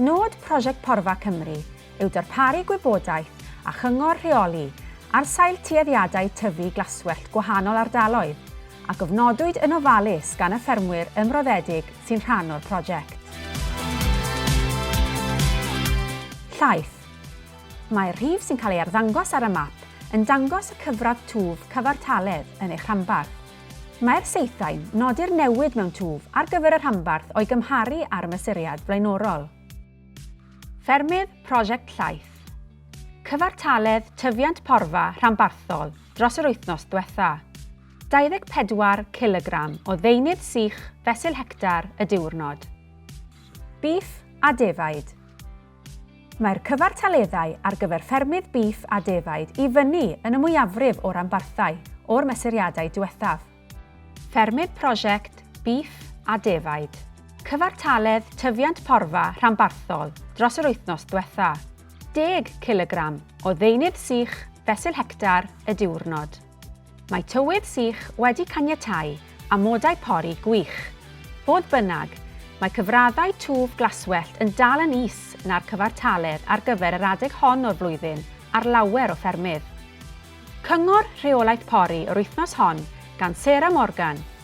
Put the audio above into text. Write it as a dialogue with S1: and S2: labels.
S1: Nod Prosiect Porfa Cymru yw darparu gwybodaeth a chyngor rheoli ar sail tueddiadau tyfu glaswellt gwahanol ardaloedd, a gofnodwyd yn ofalus gan y ffermwyr ymroddedig sy'n rhan o'r prosiect. Llaeth. Mae'r rhif sy'n cael ei arddangos ar y map yn dangos y cyfradd twf cyfartaledd yn eich rhanbarth. Mae'r saethau'n nodi'r newid mewn twf ar gyfer y rhanbarth o'i gymharu â'r mesuriad flaenorol. Ffermydd Prosiect Llaeth. Cyfartaledd tyfiant porfa rhanbarthol dros yr wythnos dwetha. 24 cilogram o ddeunydd sych fesul hectar y diwrnod. Bîff a defaid. Mae'r cyfartaleddau ar gyfer ffermydd bîff a defaid i fyny yn y mwyafrif o ranbarthau o'r mesuriadau diwethaf. Ffermydd Prosiect Bîff a Defaid. Cyfartaledd tyfiant porfa rhanbarthol dros yr wythnos diwetha', deg cilogram o ddeunydd sych fesul hectar y diwrnod. Mae tywydd sych wedi caniatáu amodau pori gwych. Fodd bynnag, mae cyfraddau twf glaswellt yn dal yn is na'r cyfartaledd ar gyfer yr adeg hon o'r flwyddyn ar lawer o ffermydd. Cyngor rheolaeth pori yr wythnos hon gan Sarah Morgan